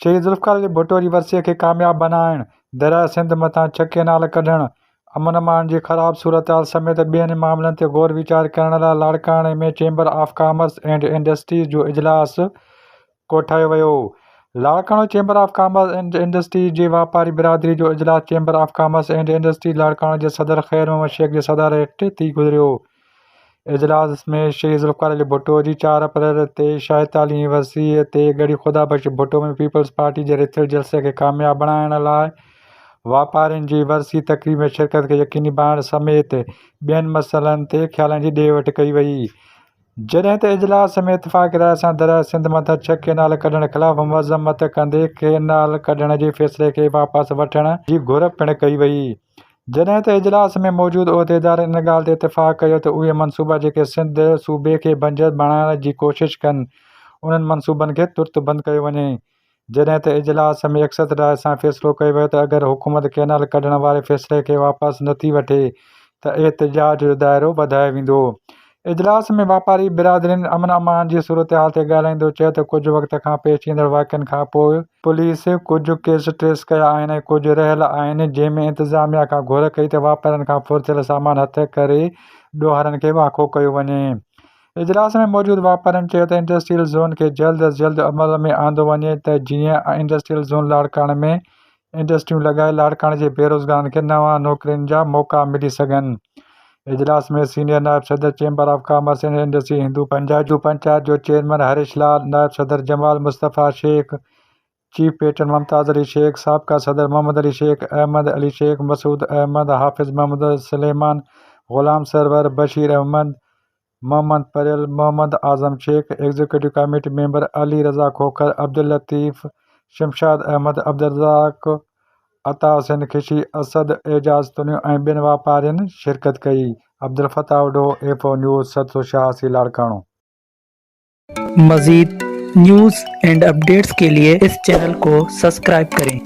شهيد ذوالفقار علي ڀٽو جي ورسيء کي ڪامياب بنائڻ، درياء سنڌ مٿان ڇهه ڪئنال ڪڍڻ، امن امان جي خراب صورتحال سميت ٻين معاملن تي غور ويچار ڪرڻ لاء لاڙڪاڻي ۾ chamber of commerce and industries جو اجلاس ڪوٺايو ويو. Larkana chamber of commerce and industries جي واپاري برادري جو اجلاس chamber of commerce and industries Larkana جي صدر خير محمد شيخ جي صدارت هيٺ ٿي گذريو. اجلاس ۾ شهيد ذوالفقار علي ڀٽو جي چار اپريل تي شايد علي ۽ وسيع تي ڳڙهي خدا بخش ڀٽو ۾ پيپلز پارٽي جي رٿيل جلسي کي ڪامياب بڻائڻ لاء واپارين جي ورسي تقريب ۾ شرڪت کي يقيني بڻائڻ سميت ٻين مسئلن تي خيالن جي ڏي وٺ ڪئي وئي. جڏهن ته اجلاس ۾ اتفاق راء سان درياء سنڌ مٿان ڇهه ڪئنال ڪڍڻ خلاف مذمت ڪندي ڪئنال ڪڍڻ جي فيصلي کي واپس وٺڻ جي گهر پڻ ڪئي وئي جڏهن ته اجلاس ۾ موجود عهديدارن ان ڳالهه تي اتفاق ڪيو ته اهي منصوبا جيڪي سنڌ صوبي کي بنجر بڻائڻ جي ڪوشش ڪن انهن منصوبن کي ترت بند ڪيو وڃي جڏهن ته اجلاس ۾ يڪسر راء سان فيصلو ڪيو ويو ته اگر حڪومت ڪئنال ڪڍڻ واري فيصلي کي واپس نٿي وٺي ته احتجاج جو دائرو وڌايو ويندو اجلاس ۾ واپاري برادرين امن امان جي صورتحال تي ڳالهائيندو چيو ته ڪجهه وقت کان پيش ايندڙ واقعن کان پوء پوليس ڪجهه ڪيس ٽريس ڪيا آهن ۽ ڪجهه رهيل آهن جنهن ۾ انتظاميا کان گهر ڪئي ته واپارين کان ڦرٿيل سامان هٿ ڪري ڏوهارين کي واکو ڪيو وڃي. اجلاس ۾ موجود واپارين چيو ته انڊسٽريل زون کي جلد از جلد عمل ۾ آندو وڃي ته جيئن انڊسٽريل زون لاڙڪاڻي ۾ انڊسٽريون لڳائي لاڙڪاڻي جي بيروزگارن کي نوان نوڪرين جا موقعا ملي سگهن. اجلاس ۾ سينيئر نائب صدر chamber of commerce and industry Hindu Jajo Panchayat جو چيئرمين هريش لال، نائب صدر جمال مصطفيٰ شيخ، چيف پيٽرن ممتاز علي شيخ، سابقه صدر محمد علي شيخ، احمد علي شيخ، مسعود احمد، حافظ محمد، سليمان، غلام سرور، بشير احمد، محمد پريل، Muhammad Azam Shaikh, executive committee member Ali Raza Khokhar, Abdul Latif, Shamshad Ahmed, Abdul Razzaq, عطا حسين خشي، اسد اعجاز تنيو ۽ ٻين واپارين شرڪت ڪئي. Abdel Fattah Adho, F O news, سر سو شاهه سي لاڙڪاڻو. مزيد نيوز اينڊ اپڊيٽس ڪي لئي اس چينل ڪو سسڪرائب ڪرين.